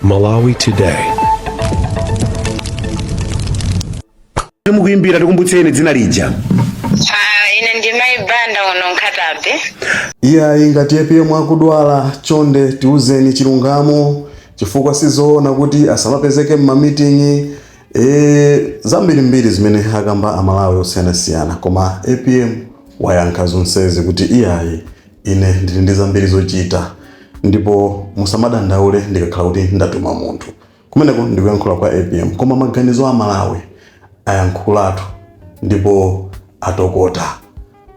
Malawi Today. mukuimbira tikumbutseni dzina lija Ah, ine ndi mayi banda uno Nkhata Bay iyayi ngati apm akudwala chonde tiuzeni chilungamo chifukwa sizoona kuti asamapezeke m'mamiting'i e, zambirimbiri zimene akamba amalawi osiyanasiyana koma apm wayankha zonsezi kuti iyayi Ine ndili ndi zambiri zochita ndipo musamadandaule ndikakhala kuti ndatuma munthu. Kumeneko ndikuyankhula kwa apm koma maganizo Amalawi ayankhulatu ndipo atokota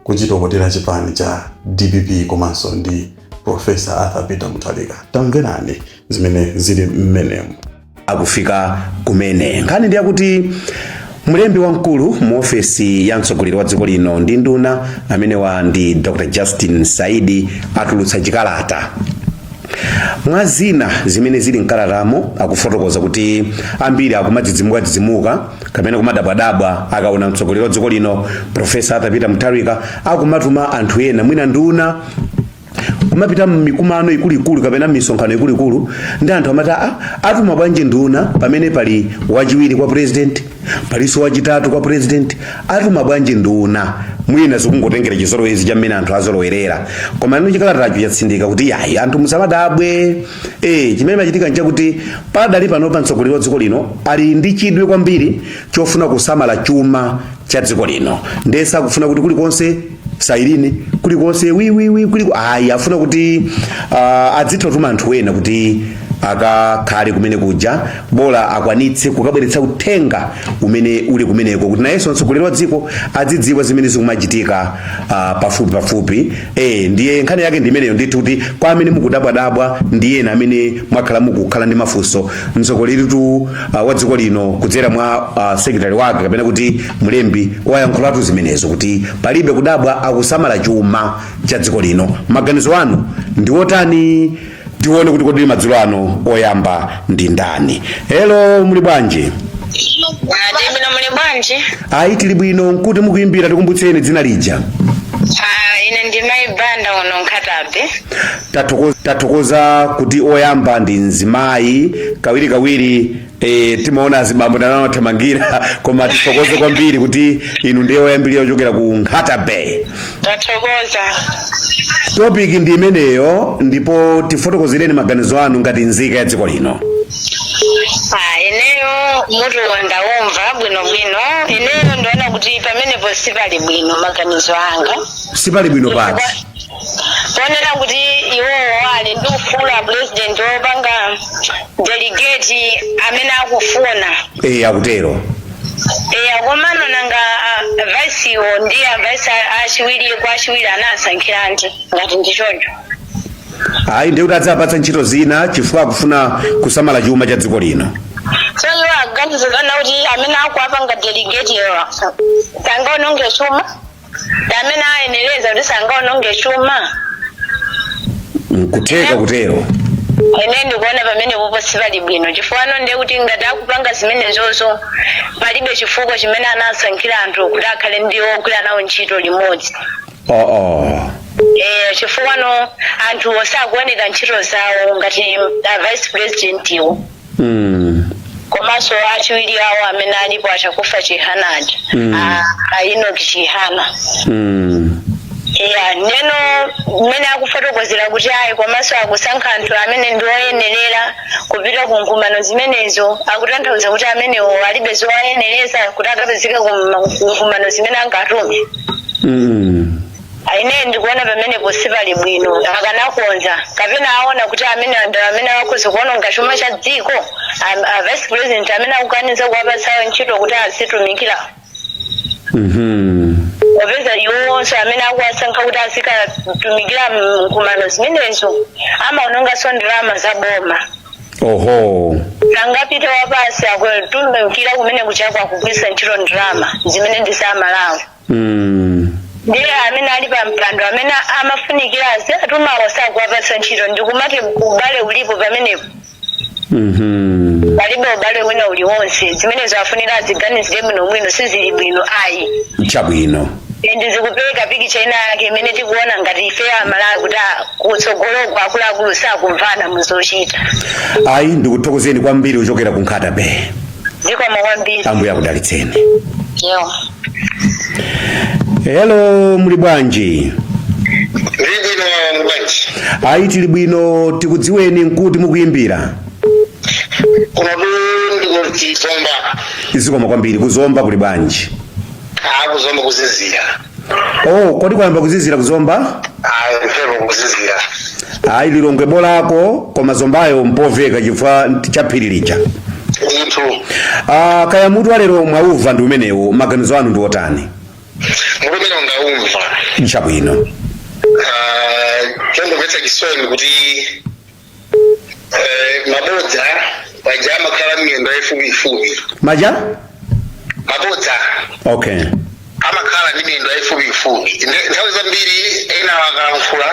kuchitokotera chipani cha dpp komanso ndi Prof. Arthur Peter Mutharika. Tamverani zimene zili mmenemu. akufika kumene nkhani ndi yakuti mlembi wamkulu mu ofesi ya mtsogoleri wa dziko lino ndi nduna amenewa ndi dr justin saidi atulutsa chikalata mwa zina zimene zili mkalatamo akufotokoza kuti ambiri akumadzidzimukadzidzimuka kapena kumadabwadabwa akaona mtsogoleri wa dziko lino profesa Arthur Peter Mutharika akumatuma anthu ena mwina nduna kumapita m'mikumano ikuluikulu kapena m'misonkhano ikuluikulu ndiye anthu amati a atuma bwanji nduna pamene pali wachiwiri kwa president palinso wachitatu kwa president atuma bwanji nduna mwina zikungotengera chizolowezi cha mmene anthu azolowerera koma ino chikalatacho chatsindika kuti yayi anthu musamadabwe eh chimene chikumachitika nchakuti pakali panopa mtsogoleri wa dziko lino ali ndi chidwi kwambiri chofuna kusamala chuma cha dziko lino ndiye sakufuna kuti kulikonse sailini kulikonse wiwiwi kulikonse ayi afuna kuti uh, adzitha kutuma anthu ena kuti akakhale kumene kuja bola akwanitse kukabweretsa uthenga umene uli kumeneko kuti nayenso mtsogoleri wa dziko adzidziwa zimene zikumachitika uh, pafupi pafupi Ee, ndiye nkhani yake ndi imeneyo ndithu kuti kwa amene mukudabwadabwa ndi ena amene mwakhala mukukhala ndi mafunso mtsogoleritu uh, wa dziko lino kudzera mwa uh, sekretari wake kapena kuti mlembi wayankhulatu zimenezo kuti palibe kudabwa akusamala chuma cha dziko lino maganizo anu ndi otani tione kuti kodi madzulo ano oyamba ndi ndani helo muli bwanji tili bwino muli bwanji? ayi tili bwino ndi kuti mukuyimbira tikumbutseni dzina lija Ah, ine ndi mayi banda uno Nkhata Bay. Tathokoza- tathokoza kuti oyamba ndi mzimayi kawirikawiri E, timaona azibambo ndi amene amathamangira koma tithokoze kwambiri kuti inu ndiye oyambirira ochokera ku nkhata bay tathokoza topic ndi imeneyo ndipo tifotokozereni maganizo anu ngati nzika ya dziko lino Ah, ineyo mutu ndaumva bwinobwino ineyo ndaona kuti pamenepo sipali bwino maganizo anga sipali bwino pati ponena kuti iwowo ali ndi ufulu a president wopanga delegate amene akufuna eyi akutero eya komano nanga vice iwo ndi a vice achiwiri kwa achiwiri anasankhiranji ngati ndi choncho ayi ndiye kuti adzapatsa ntchito zina chifukwa akufuna kusamala chuma cha dziko lino so iwo aganiza kuti amene akuwapanga delegate iwo sangaononge chuma ndi amene ayenereza kuti sangaononge chuma nkutheka kutero ine ndikuona pamenepopo sipali bwino chifukwa no ndiye kuti ngati akupanga zimenezozo palibe chifukwa chimene anasankhira anthu kuti akhale ndi ogwira nawo ntchito limodzi oo Eh, chifukwa no anthu osakuoneka ntchito zawo ngati a vice president iwo Mm. komanso achiwiri awo amene alipo a Chakufwa chihana aja Mm. a- a enoch chihana Mm. ya ndiyeno mmene akufotokozera kuti ayi komanso akusankha anthu amene ndi oyenerera kupita ku nkumano zimenezo akutanthauza kuti amenewo alibe zowayenereza kuti akapezeke ku nkumano zimene angatume Mm. Ine ndikuona pamenepo sipali bwino. Akanakonza kapena aona kuti amenewa ndi amene akhoza kuononga chuma cha dziko, am- a vice president amene akukaniza kuwapatsawo ntchito kuti azitumikira Mhm. popeza iwowonso amene akuwasankha kuti azikatumikira nkumano zimenezo amaononganso ndalama za boma Oho. sangapite wapansi akutumikira kumene kunjako akugwiritsa ntchito ndalama zimene ndi za malawi Mm. ndiye amene ali pa mpando amene amafunikira aziwatumawo sakuwapatsa ntchito ndikumati ubale ulipo pamenepo Mhm. palibe ubale wina uliwonse zimenezo afunika aziganizire bwino bwino sizili bwino ayi chabwino ndi zikupereka pikicha ina yake imene tikuona ngati ife amalawi kuti ah, kutsogoloko akuluakulu sakumvana muzochita ayi ndikuthokozeni kwambiri kuchokera ku nkhata bay zikomo kwambiri ambuye akudalitseni yo hello muli bwanji Ndili bwino muli bwanji. ayi tili bwino tikudziweni nkuti mukuyimbira Kuno ndi ku Zomba. zikomo kwambiri kuzomba kuli bwanji A kuzomba kuzizira. Oh, kodi kwayamba kuzizira kuzomba? ayi mphepo kuzizira Ayi lilongwe bolako koma zombayo mpoveka chifukwa chaphiri lija. ndithu Ah, kaya mutu walero mwauva ndi umenewo maganizo anu ndi otani? mutuwo ndaumva Chabwino. Ah, chondomvetsa chisoni kuti Eh, mabodza paja amakhala miyendo yayifupiyifupi maja mabodza okay amakhala ndi miyendo yayifupiyifupi Nde- nthawi zambiri ena akalankhula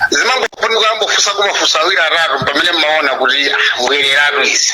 zimangofunika ambofusa kumafusa awiri atatu pamene mmaona kuti ah, mbwereratu izi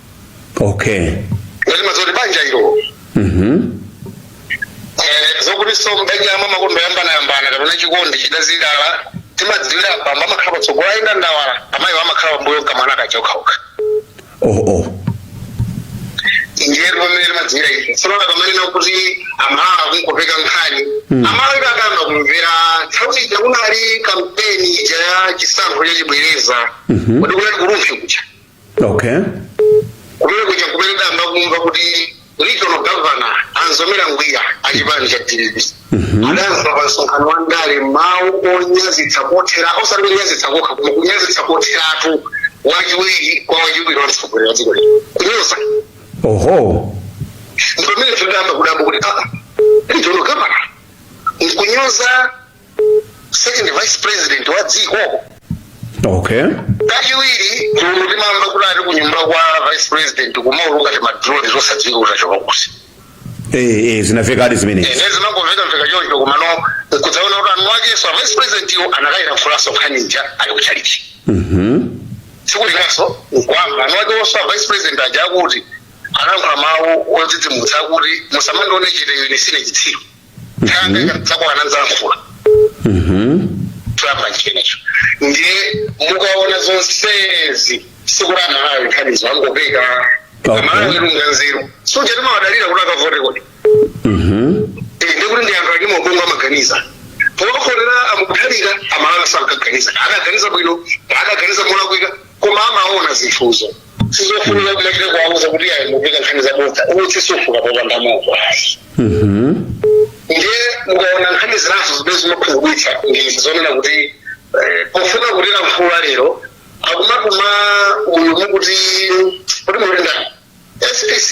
okay ngati mazoti banja ilo mhm Eh, zokutinso mbanja yamwe amakonda kuyambanayambana kapena chikondi chidazilala timadziwira bambo amakhala patsogolo ayenda ndawala amayi amakhala pambuyo kamwana kachokhaoka oh oh ndiyeno pamene timadziwira ife tsono akamanena kuti amalawi akungopeka nkhani amalawi kuti akayamba kumvera nthawi ija kunali kampeni ija ya chisankho chachibwereza kuti kunali ku rumphi kuja okay kumene kuja kumene tidayamba kumva kuti regional governor a mzomera ngwira achipani cha dpp adanena pa msonkhano wa ndale mawu onyazitsa kothera osati kunyazitsa kokha koma kunyazitsa kotheratu wachiwiri kwa wachiwiri wa mtsogoleri wa dziko lino kunyoza oho ndipamene tidayamba kudabwa kuti aa regional governor nkunyoza second vice president wa dziko okay kachiwiri mulungu timamva kuti ati ku nyumba kwa vice president kumauluka timadrone zosadziwika kuti achoka kuti eh eh zinamvekadi zimenezi ene zimangomveka mveka choncho komano kudzaona kuti eni wakenso a vice president yo anakayilankhulanso nkhani ija ali ku chalichi mhm sikulinganso nkwamba eni wakewonso a vice president aja akuti anayankhula mawu odzidzimutsa akuti musamandione chete ine sine chitsiru nanga ngati dzako anadzalankhula trump chimenecho ndiye mukaona zonsezi sikuti amalawi nkhanizo angopeka Okay. amalawi ndi anzeru suja timawadalira kuti akavote kodi Eh, ndi kuti ndi anthu ali ndi maubongo amaganiza powavotera a mutharika amalawi sankaganiza adaganiza bwino adaganiza molakwika koma amaona zinthuzo sizofunika kumachita kuwauza kuti ayi mukupeka nkhani zabodza utsi sufuka popanda moto ayi Mhm. ndiye mukaona nkhani zinazo zimene zimakhumudwitsa ndi zonena kuti eh, pofuna kutilankhula lero akumatuma uyu mukuti kuti mulenda spc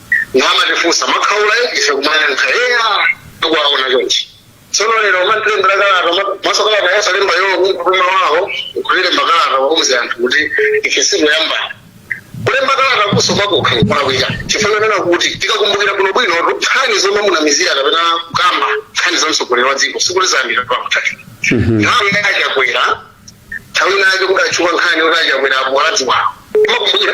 kumatifunsa mwakhaula ife kumayankha eya tikuwaona chonchi tsono lero amatilembera kalata ma- komanso kalata yosalemba iwo kumutuma wawo kuti lemba kalata wauze anthu kuti ife sikuyamba kulemba kalatakonso pakokha kolakwika chifukwa chonena kuti tikakumbukira kuno bwino nkhani zomunamizira kapena kukamba nkhani za mtsogoleri wa dziko sikuti zayambira pa mutharika nthawi ya chakwera nthawi inayo kudatchuka nkhani kuti achakwera apo adziwawo mukumbukira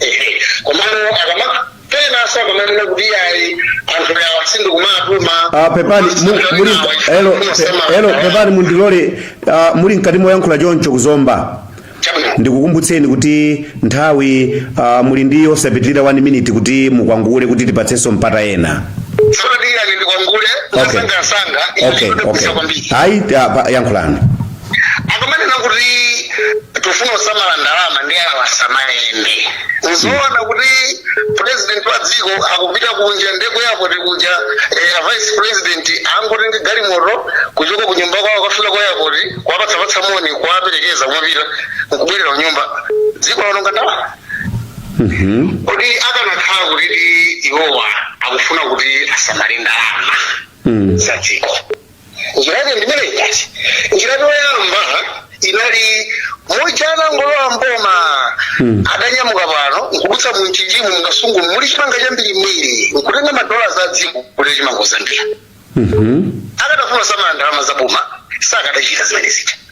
Ehe, komano akamanena asa akamanena kuti ayi anthu awa sindikuwatuma Ah, pepani mu- muli elo pe- elo pepani mundilole ah, muli mkati moyankhula choncho ku Zomba ndikukumbutseni kuti nthawi ah, muli ndi osapitirira 1 minute kuti mukwakule kuti tipatsenso mpata ena sodadiyani ndikwakule Okay. mwamsangamsanga Okay, okay. kwambiri Ayi, ah, pa- yankhulani. akamanena kuti tifuna kusamala ndalama ndiye awa asamayende nzoona kuti president wa dziko akupita kunja ndi ku airport kuja eh, a vice president angotenga galimoto kuchoka ku nyumba kwawo kukafika ku airport kuwapatsapatsa moni kuwaperekeza kumapita nkubwerera ku nyumba ndiye kuti aononga ndalama Mhm. kodi akanakhala kutidi iwowa akufuna kuti asamale ndalama Mm. za dziko njira yake ndimeneyi basi njira yoyamba inali muja anangolowa mboma Mm. adanyamuka pano nkudutsa mu Mchinjimu mu Kasungu muli chimanga chambirimbiri nkutenga madola za dziko kugula chimanga ku Zambia Mhm. akadafuna kusamala ndalama za boma sakadachita zimene zija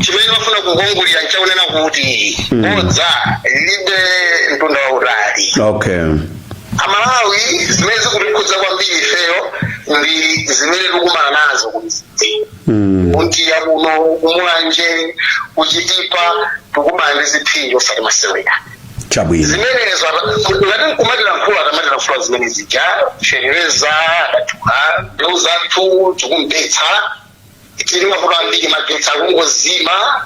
chimene ndimafuna kunkongolira nchakunena kuti Mm. bodza lilibe mtunda wautali okay aMalawi zimene zikutikhudza kwambiri ifeyo ndi zimene tikumana nazo mm. ku Ntcheu kuno ku Mulanje ku Chitipa tikumana ndi ziphinjo osati masewera chabwino zimenezo aziti akumatilankhula atamatilankhula zimene zija feteleza adadula mbewu zathu zikubetsa tili mmavuto ambiri magetsi akungozima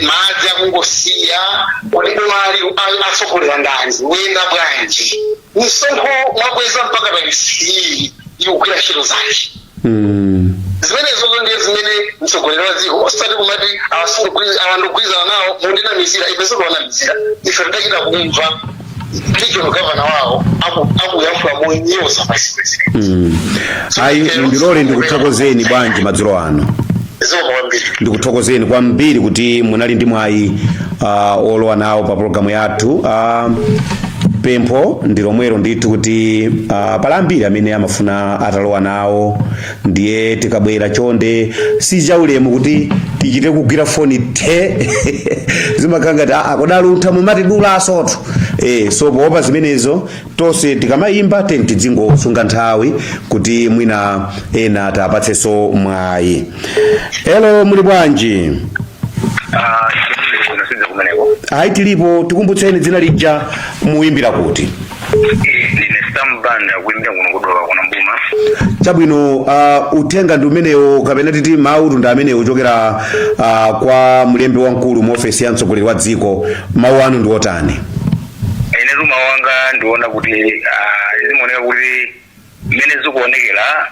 madzi akungosiya kodi bomali akutsogolera ndani likuyenda bwanji misonkho mwakweza mpaka taxi ikugwira ntchito zake zimenezozo ndiye zimene mtsogoleri wa dziko osati kumati awa sindikugwirizana nawo mundinamizira ife sitikuwanamizira ife tidachita kumva regional governor wawo aku- akuyankhula monyoza vice president Mm. ayi ndilole ndikuthokozeni bwana madzulo ano zikomo kwambiri ndikuthokozeni kwambiri kuti munali ndi mwayi uh, olowa nawo pa pologalamu yathu uh, pempho ndi lomwelo ndithu kuti uh, pali ambiri amene amafuna atalowa nawo ndiye tikabwera chonde si chaulemu kuti tichite kugwira foni the zimakhala ngati aa kodi a Luntha mumatidula ah so eh, so poopa zimenezo tonse tikamayimba teni tidzingosunga nthawi kuti mwina ena tiwapatsenso mwayi elo muli bwanji Ah, tilipo kuno kaya kumeneko ayi tilipo tikumbutseni dzina lija mukuyimbira kuti ndine Sam Banda kuimbira kuno ku Dowa kuno m'boma chabwino uh, uthenga ndi umenewo kapena titi mawu ndi amenewo ochokera uh, kwa mlembi wamkulu mu ofesi ya mtsogoleri wa dziko mawu anu ndi otani ine mawu anga ndi onena kuti ah, zimaoneka kuti mmene zikuonekera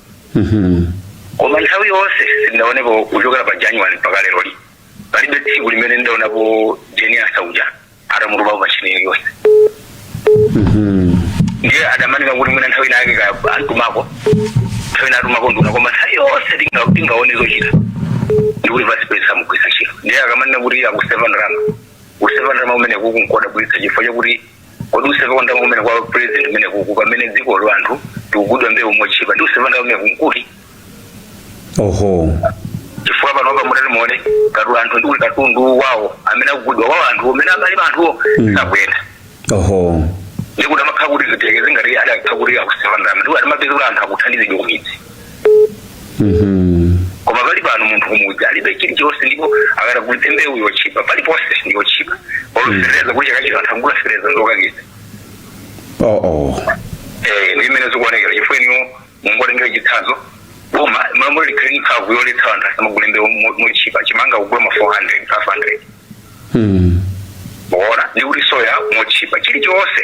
koma nthawi yonse sindinaonepo kuchokera pa january mpaka lero li palibe tsiku limene ndaonapo Jane Ansah uja atamutuma pachina iliyonse ndiye akamanena kuti mwina nthawi inayake ka anamutumako nthawi ina atumako nduna koma nthawi yonse tinga- tingaone zochita ndikuti vice president samugwiritsa ntchito ndiye akamanena kuti akuseva ndalama kuseva ndalama umene kukundidabwitsa chifukwa chakuti kodi kuseva ndalama kumene kwa president kumeneku pamene dziko lo anthu akugulidwa mbewu motchipa ndi kuseva ndalama kumene kumkuti oho chifukwa panopa mutati muone katu anthu ndi katundu wawo amene akugulidwa wawo anthu amene amalima anthuwo sakuyenda oho ndikuti amakhala kuti zitheke ngati akadakhala kuti akuseva ndalama ndikuti timapeza kuti anthu akuthandizidwa kumidzi koma pakali pano munthu kumudzi alibe chilichonse ndipo akati agulitse mbewu yotchipa paliponse ndiyotchipa olo fetereza kuti chaka chatha anthu agula fetereza ndi yokayikitsa oh oh Eh, ndi mmene zikuonekera chifukwa inuyo mungotengera chitsanzo boma mmalo moti likhale mphamvu yoletsa anthu asamagule mbewu mo- motchipa chimanga kugula ma 400 500 hmm. muona ndi kuti soya motchipa chilichonse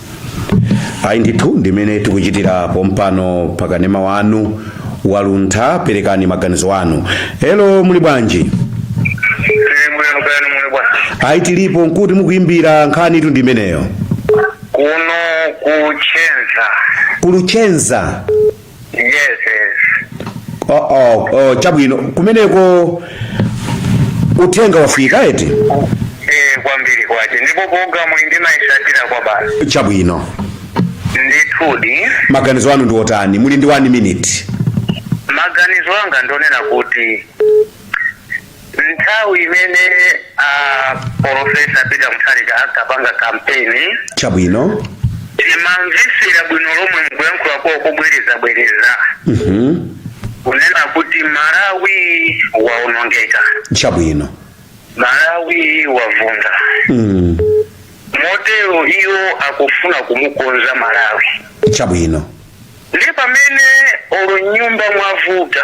ayi ndithu ndimene tikuchitira pompano pakanema wanu waluntha perekani maganizo anu elo muli bwanji tili bwino kaya inu muli bwanji ayi tilipo nkuti mukuimbira nkhanitu ndimeneyo kuno ku Luchenza ku Luchenza yes yes oh, oh, oh, chabwino kumeneko uthenga wafika eti eh kwambiri kwache ndipo programu iyi ndimayitsatira kwabasi chabwino ndithudi maganizo anu ndi otani muli ndi 1 minute maganizo anga ndonena kuti nthawi imene a polofesa peter mutharika ankapanga kampeni chabwino tinkamvetsera bwino lomwe m'kuyankhula kwawo kobwerezabwereza Mhm. kunena kuti malawi waonongeka chabwino malawi wavunda Mm. motero iwo akufuna kumukonza malawi chabwino ndi pamene olo m'nyumba mwavuta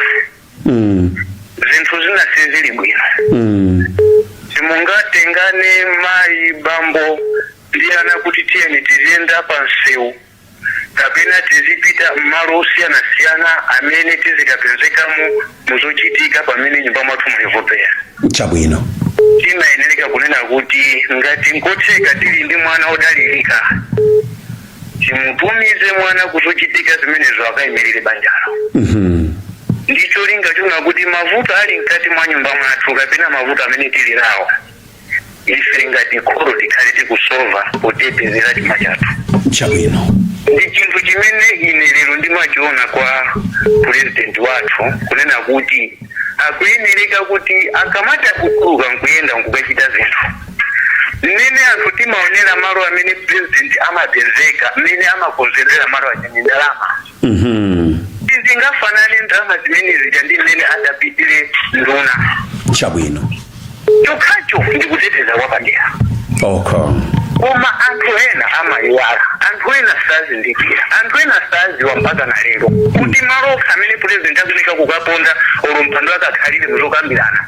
Mm. zinthu zina sizili bwino Mm. simungatengane mayi bambo ndi ana kuti tiyeni tiziyenda pa msewu kapena tizipita m'malo osiyanasiyana amene tizikapezekamo muzochitika pamene m'nyumba mwathu muli movutikira Chabwino. timayenereka kunena kuti ngati nkotheka tili ndi mwana odalirika timutumize mwana kuzochitika zimenezo akayimirire banjalo ndi cholinga chonena kuti mavuto ali mkati mwa nyumba mwathu kapena mavuto amene tili nawo ife ngati kholo tikhale tikusova potetezera chuma chathu chabwino ndi chinthu chimene ine lero ndimachiona kwa purezidenti wathu kunena kuti akuyenereka kuti akamati akutuluka nkuyenda nkukachita zinthu mmene anthu timaonera malo amene president amapezeka mmene amakonzedwera malo aja ndi ndalama Mhm. sizingafanane ndalama zimene zija ndi mmene idapitira nduna chabwino chokhacho ndi kuteteza kwapadera okay koma anthu ena amayiwala anthu ena sazindikira anthu ena saziwa mpaka na lero kuti malo okha amene president akufunika kukaponda olo mpando okakhalira muzokambirana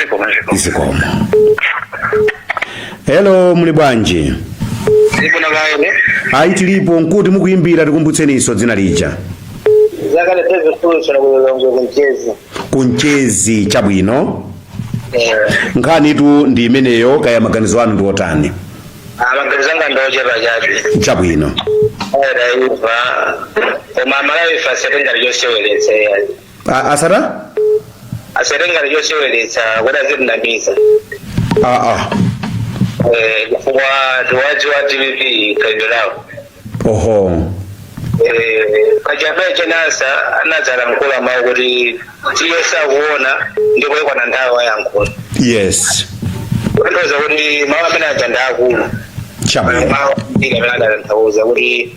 zikomo zikomo zikomo hello muli bwanji zikomo kaene ayi tilipo nkuti mukuyimbira tikumbutseniso dzina lija ndi Steve solution kulongo kumchezi kumchezi chabwino eh nkhanitu ndi imeneyo kaya maganizo anu ndi otani maganizo anga ndochepa chabe chabwino era iva koma amalawi asatitenge choseweretsa A- asati- asatitenge choseweretsa kuti azitinamiza aa Eh, chifukwa tikuwadziwa a dpp khalidwe lawo oho Eh, pachaje jane ansah anadzalankhula mawu kuti iye akuona ndipo ikwana nthawi ayankhula yes kutanthauza kuti mawu amene aja ndi akulu chabwino mawu amene adatanthauza kuti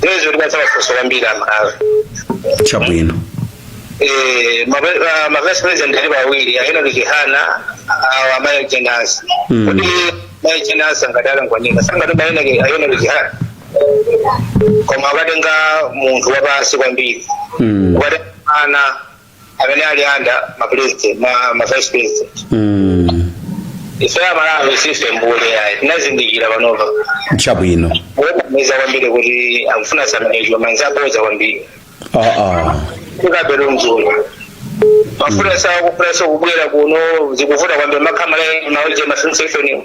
zimene zikutipatsa mafunso kwambiri amalawi chabwino Eh, mabe- ah, mavesi president alipo awiri a enock chihana awo amayi jane ansah Mm. kuti mayi jane ansah ngati atanganika akanatuma a enock chihana koma akatenga munthu wapansi kwambiri Mm. kukatenga ana amene ali anda ma president ma, ma vice president mm. ife amalawi si ife mbuli ayi tinazindikira panopa chabwino kutinamiza kwambiri kuti akufuna samanejwa manzi aboza kwambiri ah, ah. kukabero mzulu mafuna sawa kufuna so kubwera kuno zikuvuta kwambiri makamaka mafuta masinse ifeniwo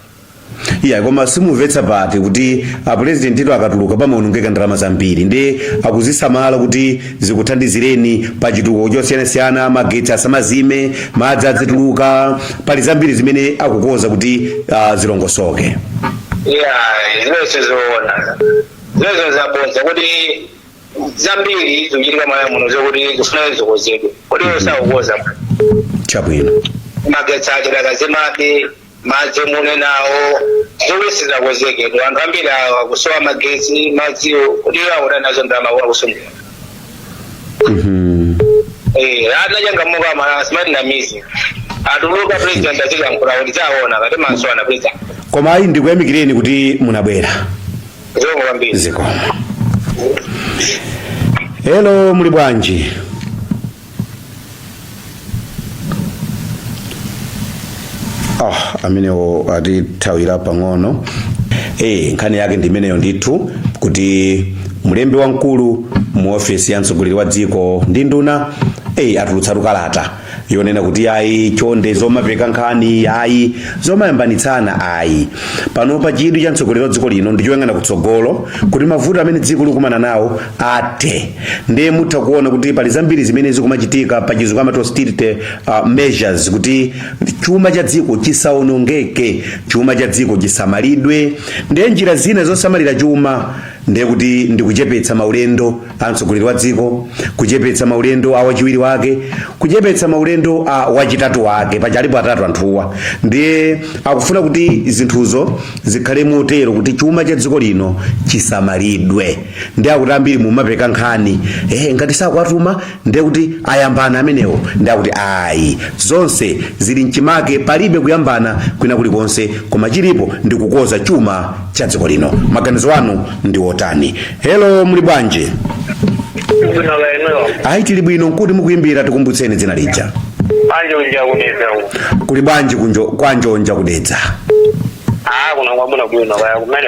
iyayi koma simumvetsa pati pakuti apurezidentitu akatuluka pamaonongeka ndalama zambiri ndiye akuzisamala kuti zikuthandizireni pa chitukuko chosiyanasiyana magetsi asamazime madzi adzituluka pali zambiri zimene akukonza kuti ah, zilongosoke ya zimenezo sizoona zimenezo zabodza kuti zambiri zikuchitika mmalawi muno zokuti zifuna zikonzedwe kuti sakukonza chabwino magetsi ajowo akuzimazima madzi munenawo nkhope sizakonzeke tu anthu ambiri awo akusowa magetsi madziwo kuti iwo akuti anadzaba ndalama kuti akusungula Eh, anachangamuka mala smart na mizi atuluka president azikalankhula kuti zaona ngati masomphenya a president koma ayi ndikuyamikireni kuti munabwera zikomo kwambiri zikomo hello muli bwanji ah amenewo atithawira pang'ono eh nkhani yake ndi imeneyo ndithu kuti mlembi wamkulu mu ofesi ya mtsogoleri wa dziko ndi nduna eh atulutsatu kalata yonena kuti ayi chonde zomapeka nkhani ayi zomayambanitsana ayi panopa chidwi cha mtsogoleri wa dziko lino ndi choyang'ana kutsogolo kuti mavuto amene dziko likumana nawo athe ndiye mutha kuona kuti pali zambiri zimene zikumachitika pa chizungu amati austerity uh, measures kuti chuma cha dziko chisaonongeke chuma cha dziko chisamalidwe ndiye njira zina zosamalira chuma ndiye kuti ndikuchepetsa maulendo a mtsogoleri wa dziko kuchepetsa maulendo a wachiwiri wake kuchepetsa maulendo a wachitatu wake paja alipo atatu anthuwa ndiye akufuna kuti zinthuzo zikhale motero kuti chuma cha dziko lino chisamalidwe ndiye akuti ambiri mumapeka nkhani eh, ngati sakuwatuma ndiye kuti ayambana amenewo ndiye akuti ayi zonse zili mchimake palibe kuyambana kwina kulikonse koma chilipo ndi kukonza chuma cha dziko lino maganizo anu ndi otani helo muli bwanji Zina la eneo. ayi tili bwino ndikuti mukuyimbira tikumbutseni dzina lija A Njonja ku Dedza u. kuli bwanji uko kwa Njonja ku Dedza Ah, kuno kwabwinobwino kaya kumene.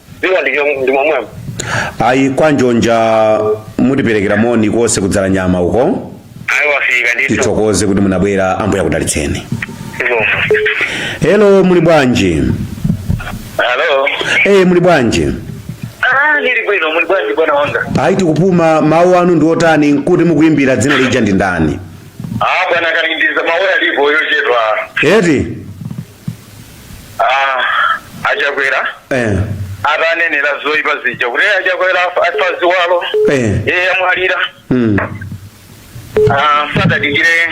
dziko ndicho ndi momwemo ayi kwa njonja mutiperekere moni konse ku Dzalanyama uko ayi wafika ndithu tithokoze kuti munabwera ambuye akudalitseni zikomo hello muli bwanji halo eye muli bwanji ah ndili bwino muli bwanji bwana wanga ayi tikupuma mawu anu ndi otani ndikuti mukuyimbira dzina lija ndi ndani ah bwana kalindiza mawu alipo ochepa eti Ah, a Chakwera eh, atanenera zoyipa zija kuti "Eh, a Chakwera afa- afa ziwalo eh, iye amwalira mm, Ah, sadadikire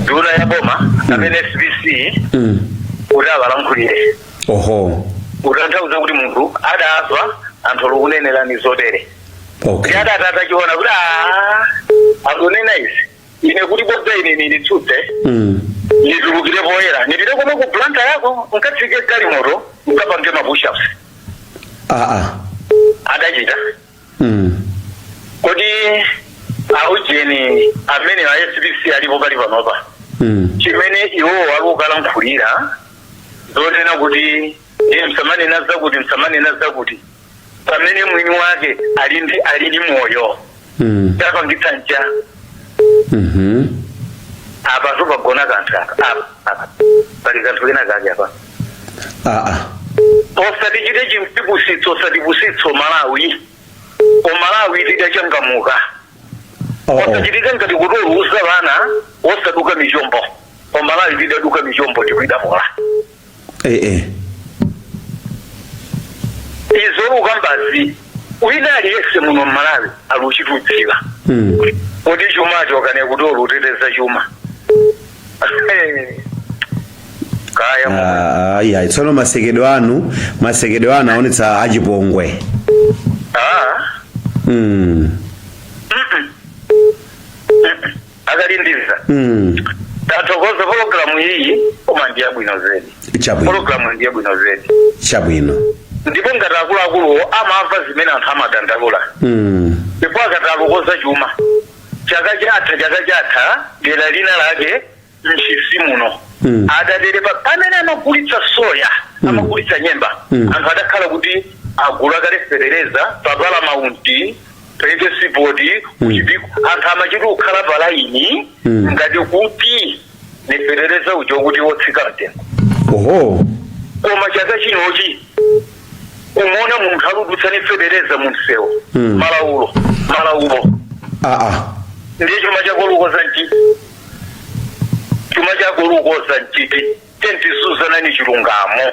nduna ya boma kapena SPC mm. kuti awalankhulire oho kutanthauza kuti munthu adava anthu akukunenerani zotere okay ndi adatha kuchiona kuti "Ah, akunena izi ine kuti bodza ine nilitsutse Mm. nitulukire poyera nipite komwe ku planta yako nkatsike galimoto nkapange mapushaps Ah ah. adachita Mm. kodi aujeni amene a SPC alipo pali panopa Mm. chimene iwo alukalankhulira zonena kuti iye msamanena zakuti msamanena zakuti pamene mwini wake ali ndi ali ndi moyo Mm. tapangitsa nja Mhm. apa sipagona kanthu aka apa apa pali kanthu kena kake apa Ah ah. osatichite chotipusitsa osatipusitsa omalawi omalawi tidachangamuka Oh oh. osachitika ngati kuti olusa ana osaduka michombo omalawi tidaduka michombo tikuidamola eh, eh. izo lukambazi wina aliyese muno mmalawi aluchidziwa Mm. kuti chuma chakene kuti oluteteza chuma kaya mu- Ah, ah, iya tsono masekedwe anu masekedwe anu aonetsa chipongwe Ah, mm. akalindiza Mm. tathokoza pologalamu iyi koma ndi yabwino zedi Chabwino. pologalamu ndi yabwino zedi Chabwino. ndipo ngati akuluakuluwo amamva zimene anthu amadandaula Mm. ndipo akatalukoza chuma chaka chatha chaka chatha dera lina lake mchinji muno Mm. adatere pamene amagulitsa soya Mm. amagulitsa nyemba Mm. anthu adakhala kuti agula kale fetereza pa falamasi pachipiku kuchipiku anthu amachita kukhala palaini Mm. ngati kuti ni fetereza uja kuti wotsika mtengo oho koma chaka chinochi umaona munthu aludutsa ni fetereza mumsewu Mm. malaulo malaulo aa ndiye chuma chako olukoza nchiti chuma chako olukoza nchiti tendiuzani chilungamo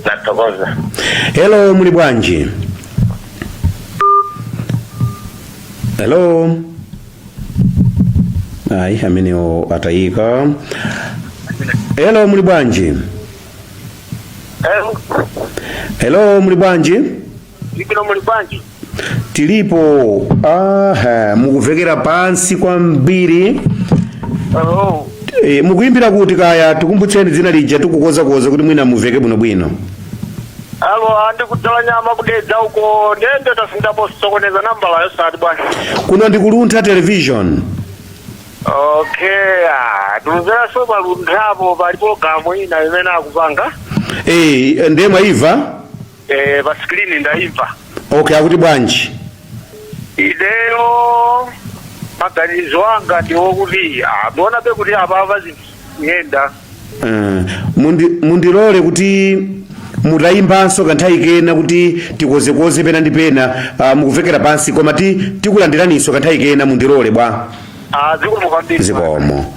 Ndathokoza. hello muli bwanji hello ayi amenewo atayika hello muli bwanji Hello. hello muli bwanji Ndilipo muli bwanji? Tilipo. Aha, mukuvekera pansi kwambiri. Oh, E, mukuimbira kuti kaya tikumbutseni dzina lija tikukozakoza kuti mwina muveke bwinobwino. alo andi kudzala nyama kudedza uko ndende tasindapo sokoneza nambala yosati bwana. Kuno ndi ku Luntha Television. Okay, ah, tuluzera so pa Lunthapo pali programu ina imene akupanga. Eh, ndiye mwaiva? Eh, pa screen ndaimva. okay akuti bwanji Ineyo maganizo anga ndi akuti ah, ndionabe kuti apapa ziyenda. Eh, mundi- mundilole kuti mutayimbanso kanthawi kena kuti tikozekoze pena ndi pena ah, mukumvekera pansi koma ti tikulandiraninso kanthawi kena mundilole bwa Ah, zikomo kwambiri. zikomo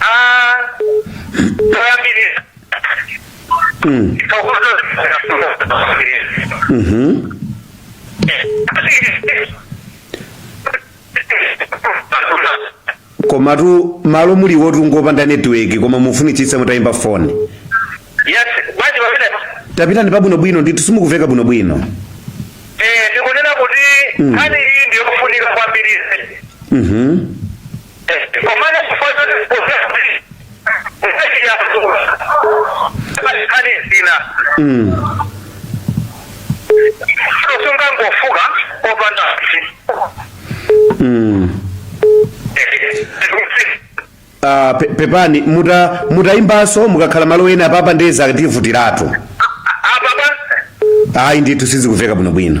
Ah, toyambirira Mm. Thokozo Mhm. komatu malo muliwotu ngopanda netiweki koma mufunitsitsa mutayimba foni yes bwanji pamene tapitani pabwinobwino ndithu simukumveka bwinobwino eh ndikunena kuti nkhani iyi ndiyofunika kwambiri Mhm. sungangofuka opanda Ah, pe- pepani muta mutayimbanso mukakhala malo ena apapa nde zativutiratu apapa ayi ndithu sizikumveka bwinobwino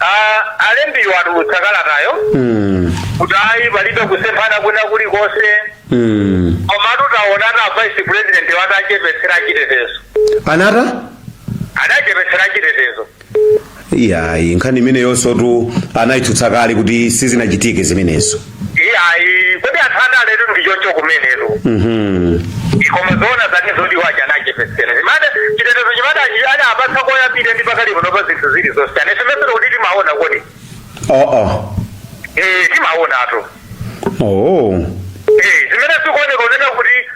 Ah, alembiwo atulutsa kalatayo Mm. kuti ayi palibe kusemphana kwina kulikonse Mm. komatu taona a vice president atawachepetsera chitetezo anata adachepetsera chitetezo iyayi nkhani imeneyonsotu anayitsutsa kale kuti sizinachitike zimenezo iyayi kuti anthu andaletu ndi choncho kumenetu koma zoona zake zoti awaja anachepetsera zimade chitetezo chimade achi- ana apatsa koyambirira ndi pakali pano pa zinthu zilizonse ane semesero kuti timaona kodi aa eh timaonatu oh Eh, zimene zikuoneka unena kuti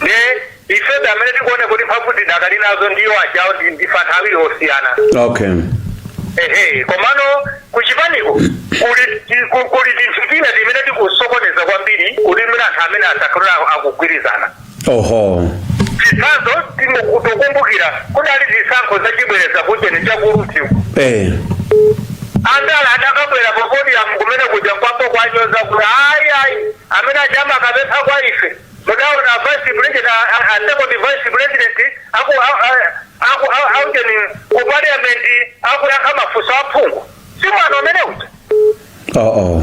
Nde ifebe amene tikuone kuti mphamvu tidakali nazo ndiye ajawo ndi- ndife anthu awiri osiyana okay ehe komano kuchipaniko kuli ti- ku- kuli tinthu tina timene tikusokoneza kwambiri kuti mwina anthu amene asakhala akugwirizana oho chitsanzo tikukumbukira kudali zisankho zachibwereza kuujeni chakuti eh andala adakabwera popodiyamu kumene kuja n'kuwapanga kuwanyoza kuti ayi ayi amene ajawa akapempha kwa ife Mudaona a vice president a a second vice president aku a a aku a a ujeni ku parliament akuyankha mafunso a phungu. Si mwano umene uja. Oh oh.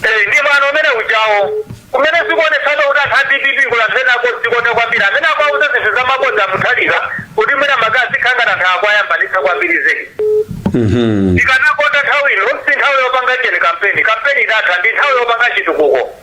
Eh, ndi mwano umene ujawo. Kumene sikuonetsana kuti anthu a DPP kuli anthu ena odzikonda kwambiri. Amene akuwauza zinthu zamabodza Mutharika kuti mwina azikangana anthu akuwayambanitsa kwambiri zedi. Mhm. Ndikanakonda nthawi ino si nthawi yopanga ujeni kampeni. Kampeni idatha ndi nthawi yopanga chitukuko.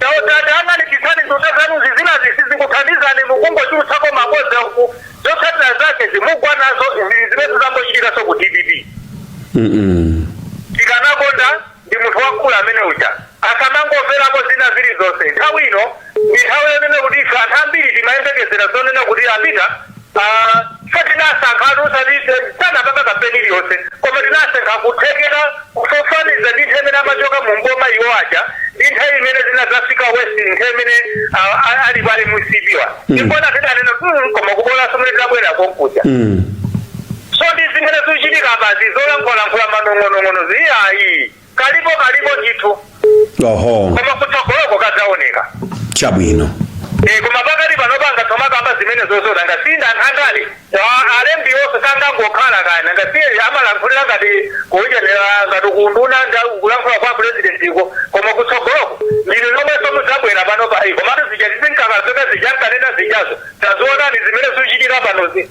Chauta tayang'anitsitsani nduna zanuzi zinazi sizikuthandizani mukungochulutsako mabodza uku zotsatira zake zimukugwa nazo izi zimene zangochitikaso ku DPP tikanakonda ndi munthu wamkulu amene uja asamangomverako zina zili zonse nthawi ino ndi nthawi yonena kuti ife anthu ambiri timayembekezera zonena kuti apita Ife tinasankhatu osati sanapanga kampeni iliyonse koma tinasankha kuthekera kufananiza ndi nthawi imene amachoka mu mboma iwo aja ndi nthawi imene zinadzafika worst nthawi imene ah, ah, ali pale MCP-wa ndi pomwe tidanena "Mm, koma kubolanso mene tibwerere konkuja so ndi zimene zikuchitika apazi zolankhulalankhula manong'onong'ono zi ayi Kalipo kalipo ndithu. Oho. Koma kutsogoloko kadzaoneka. Chabwino. Eh koma pakati panopa ngati tomakamba zimene zozona ngasinda a ndale. Alembi onse sangangokhala kaya ngasiye amalankhulira ngati kuonera ngati kwa nduna ndi kulankhula kwa president iko koma kutsogoloko ndinu nomweso mudzabwera panopa komatu zija tizinkaka zija ankanena zijazo taziona ndi zimene zuchitika panozi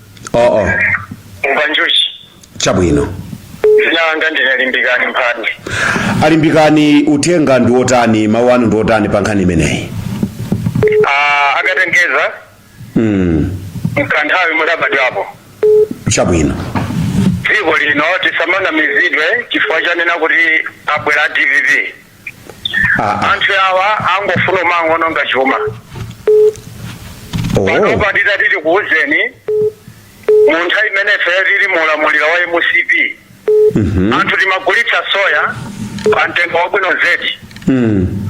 oo umva njuchi chabwino dzina langa ndine Limbikani Mphande a Limbikani uthenga ndi wotani mawu anu ndi otani pa nkhani imeneyi Ah, akatengeza mm. mkanthawi mudabadwapo chabwino dziko lino tisamanamizidwe chifukwa chonena kuti abwera a DPP Ah, ah. anthu awa angofuna kumangoononga chuma Oh. panopa titati tikuwuzeni mu nthawi imene ife tili mu ulamuliro wa MCP Mhm. anthu timagulitsa soya pa mtengo wabwino zedi Mm.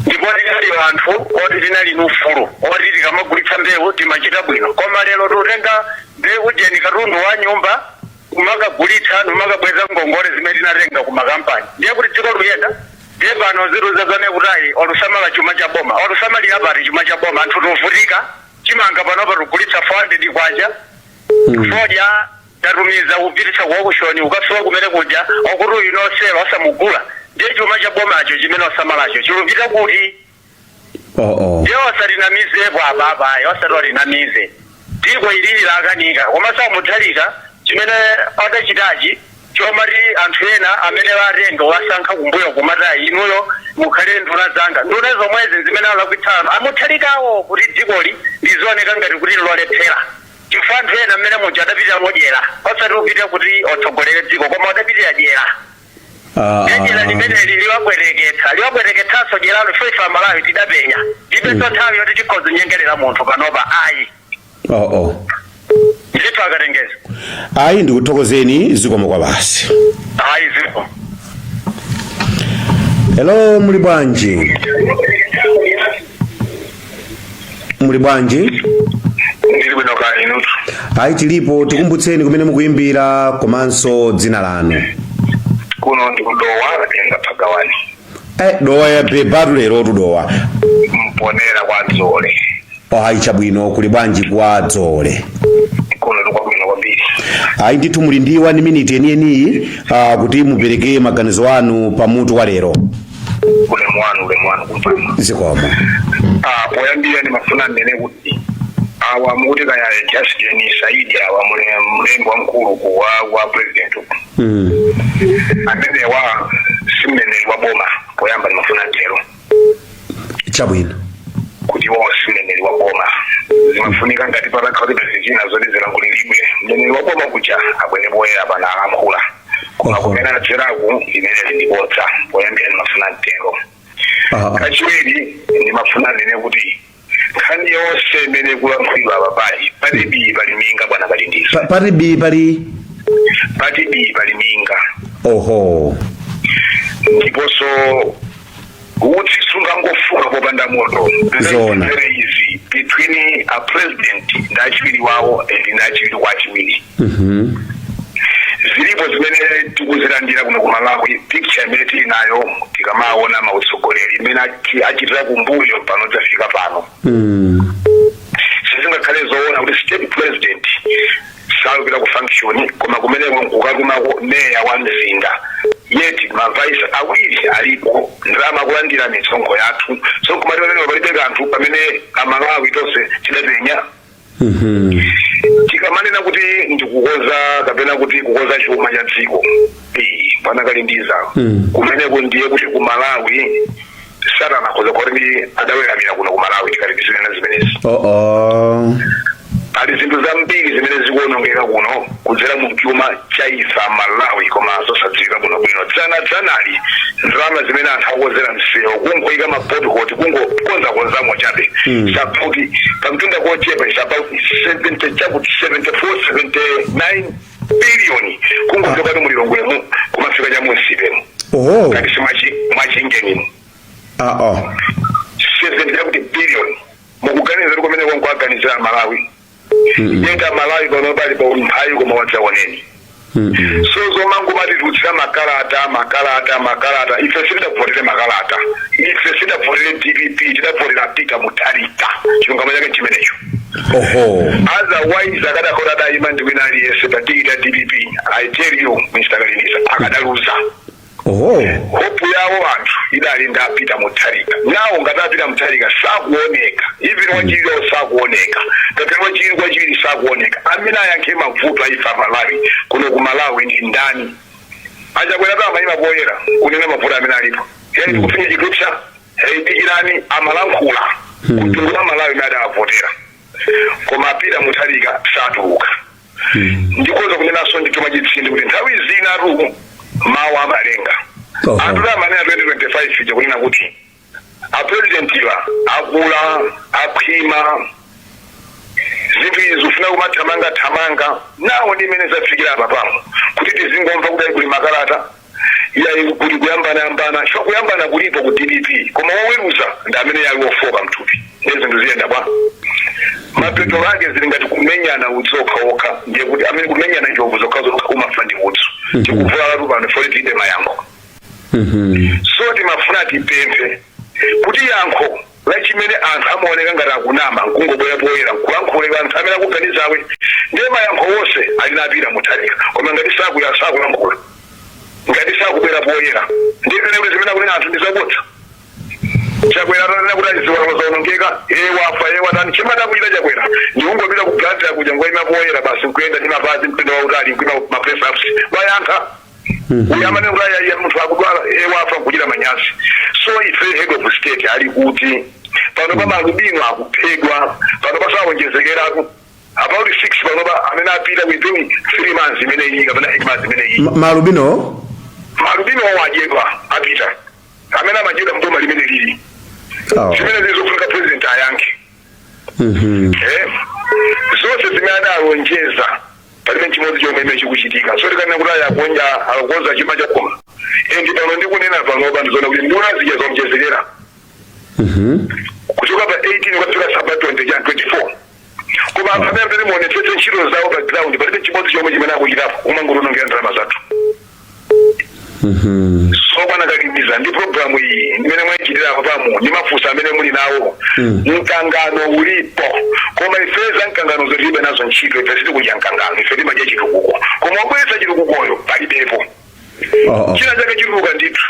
ndipo tinali anthu oti tinali ni ufulu oti tikamagulitsa mbewu timachita bwino koma lero tikutenga mbewu ujeni katundu wa nyumba kumakagulitsa nkumakabweza ngongole zimene tinatenga ku makampani ndiye kuti dziko luyenda ndiye pano azituuza zoti ayi alusamala chuma cha boma alusamalira pati chuma cha boma anthu tuvutika chimanga panopa tugulitsa 400 kwacha fodya tatumiza kupititsa kuokushoni ukafika kumene kuja okuti uyu no sale asamugula ndiye chuma cha bomacho chimene asamalacho chilupita kuti oh, oh. ndiye asatinamizepo apapa ayi asatinamize dziko ilili lakanika komanso a Mutharika chimene adachitachi chomati anthu ena amene atenga wasankha kumbuyo kumati ayi inuyo mukhale nduna zanga nduna zomwezi nzimene zalakwitsano a Mutharikawo kuti dzikoli lizioneka ngati kuti lolephera chifukwa anthu ena amene muja adapitira modyera osati kupita kuti atsogolere dziko koma adapitira dyera Ah, dyera ah. limeneli liwabwereketsa liwabwereketsanso dyeralo chifukwa ife amalawi tidapenya tipenso nthawi yoti tikhoza nyengerera munthu panopa ayi Oh, oh. ndithu akatengeza ayi ndikuthokozeni zikomo kwambiri ayi zikomo hello muli bwanji muli bwanji ndili bwino kaya inutu ayi tilipo tikumbutseni kumene mukuyimbira komanso dzina lanu kuno ndi ku dowa katenga phagawani eh, dowa ya bebatu lero tu dowa mponera kwa dzole ayi chabwino kuli bwanji kwa dzole kuno ndikwabwino kwambiri ayi ndithu muli ndi wani miniti yeniyeni ah, kuti mupereke maganizo anu pa mutu wa lero ulemu wanu ulemu wanu kumpama zikomo Ah, poyambira ndimafuna ndinene kuti awa mukuti kaya justin saidi awa mlembi wamkulu ku wa wa president uku Mm. amenewo si mneneri wa boma poyamba ndimafuna ntero chabwino kuti iwo si mneneri wa boma zimafunika ngati patakhala kuti pali zina zoti zilankhulidwe mneneri wa boma kuja abwere poyera apa nalankhula koma Oho. kumene anadzeraku limene ndi bodza poyambira ndimafuna nditero Ah, ah. kachiwiri ndimafuna ndinene kuti nkhani yonse imene ikulankhulidwa apa pali pali bii pali minga bwana pali ndizo Pa- pali bii pali pati bii pali minga oho ndiponso utsi sungangofuka popanda moto Zoona. There is between a president ndi achiwiri wawo and ndi achiwiri kwa achiwiri zilipo zimene tikuzilandira kuno ku malawi picture imene tili nayo tikamaona mautsogoleri imene achi- achitira kumbuyo pano tafika pano sizingakhale zoona kuti state president sakupita ku function koma kumeneko nkukatumako meya wa mzinda yet mavaisi awiri alipo ndalama kulandira misonkho yathu so nkumati pamene palibe kanthu pamene amalawi tonse tidapenya tikamanena kuti ndikukoza kapena kuti kukoza chuma cha dziko eh, akakhala ndi za kumeneko ndiye kuti ku malawi satana akhoza kuti ndithu adaweramira kuno ku malawi tikati tizinena zimenezi oo pali zinthu zambiri zimene zikuonongeka kuno kudzera mu chuma cha ife amalawi koma zosadziwika bwino bwino dzana dzanali ndalama zimene amati akonzera msewu kungoyika mapotihoti kungokonzakonzamo chabe basi pamtunda wochepa is about 70 chakuti 74 79 biliyoni kungochoka mulilongwemu kumafika chamunsimu kaya ndi kwa Machinjiri ah, oh. sezendera kuti biliyoni mukuganiza kuti komweko nkuwaganizira amalawi yet amalawi pano ali pa umphawi koma wadzaoneni Mm-hmm. so zomangomatitulutsira makalata makalata makalata ife sitidavotere makalata ife sitidavotere dpp tidavotera a Peter Mutharika chilungamo chake chimenecho oho otherwise akadakhala adayima ndi wina aliyense pa tikiti ya dpp i tell you mr Kalilisa akadaluza oho hope yawo anthu idali ndi a Peter Mutharika now ngati a Peter Mutharika sakuoneka even wachiwiriyo sakuoneka ngati wachiwiri kwa wachiwiri sakuoneka amene ayankhe mavuto a ife amalawi kuno ku malawi ndi ndani a Chakwera atamayima poyera kunena mavuto amene alipo yani tikufinya chikupsa hey, dikirani amalankhulatu hmm. kuti hmm. amalawi amene adawavotera koma a Peter Mutharika satuluka hmm. ndikoza kunenanso nditumize chitsindi kuti nthawi zinatu mawu amalenga oh. anthutu amanena 2025 ija kunena kuti apurezidentiwa akula akhwima zinthu izi zimafuna kumathamanga thamanga now ndi mmene zafikira apa pano kuti tizingomva kuti kuli makalata iyayi kuli kuyambana yambana so kuyambana kulipo ku dpp koma woweruza ndi amene ali wofooka mthupi ndiye zinthu ziyenda bwanji mapeto ake zili ngati kumenyana udzu okhaokha ndiye kuti amene kumenyana njovu zokhazokha amafa ndi udzu tikuvulalatu pano poti tilibe mayankho so timafuna tipemphe kuti yankho la chimene anthu amaoneka ngati akunama nkungobwera poyera nkulankhula kwa anthu amene akuganizawe ndiye mayankho onse ali ndi a Peter Mutharika koma ngati sakuya sakulankhula ngati sakubwera poyera ndiye mwina kuti zimene akunena anthu ndizabodza chakwera atanena kuti a ziwalo zaonongeka iye wafa iye watani chimene adachita Chakwera ndikungopita ku Blantyre kuja nkungoyima poyera basi nkuyenda ndi mapazi mtunda wautali nkuyima ma press ups wayankha kuti amanena kuti ayaya munthu akudwala e wafa nkuchita manyazi so ife head of state ali kuti pano pa maalubino akuphedwa pano awonjezekeratu about six pano pa amene apita within three months imene iyi kapena eight months imene iyi Ma- maalubino maalubino achedwa apita amene amachedwa mboma limene ili awa zimene nzofunika president ayankhe Mhm. Eh, zonse zimene adalonjeza palibe chimodzi chomwe chimene chikuchitika so tikanena kuti aya akonza akukonza chuma chake and pano ndikunena panopa ndizoona kuti nduna zija zawonjezekera Mhm. kuchoka pa 18 kukafika cha pa 20 ja 24 koma anthu amene amene muonetsetse ntchito zawo pa ground palibe chimodzi chomwe chimene akuchitapo kumangotiwonongera ndalama zathu so bwana Kalingisa ndi programu iyi imene mwaichitira pompanoyi ndi mafunso amene muli nawo mkangano ulipo koma ife za mkanganozo tilibe nazo ntchito ife sitikudya mkangano ife timadya chitukuko koma obweretsa chitukukoyo palibepo Oh, oh. china chake chituluka ndithu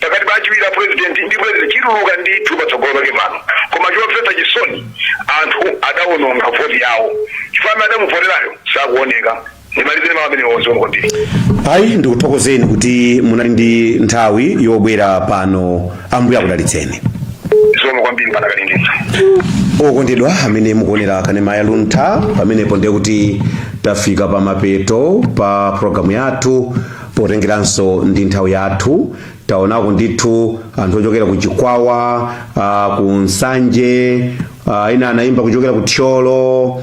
pakati pa achiwiri a president ndi president chituluka ndithu patsogolo pake pano koma chomvetsa chisoni anthu adawononga voti yawo chifukwa amene adamuvoterayo sakuoneka ndimalizire mawu amenewo zikomo kwambiri ayi ndikuthokozeni kuti munali ndi nthawi yobwera pano ambuye akudalitseni zikomo kwambiri bwana Kalingisa okondedwa amene mukuonera kanema ya luntha pamenepo ndiye kuti tafika pa mapeto pa programu yathu potengeranso ndi nthawi yathu taonako ndithu anthu ochokera ku chikwawa uh, ku nsanje uh, ina anayimba kuchokera ku thyolo